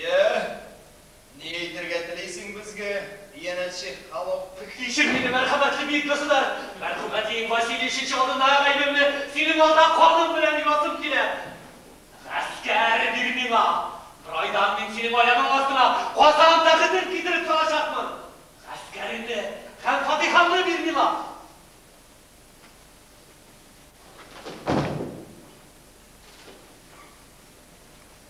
Йә, ни әйтергә телисең безгә, иянәтче халык? Кичер мине, мәрхәмәтле бөек государь! Мәрхүм әтиең Василий өченче алдында гаебемне синең алда каным белән юасым килә. Гаскәр бир миңа! Бер айдан мин синең аягың астына Казан тәхетен китереп салачакмын! Гаскәремне һәм фатихамны бир миңа!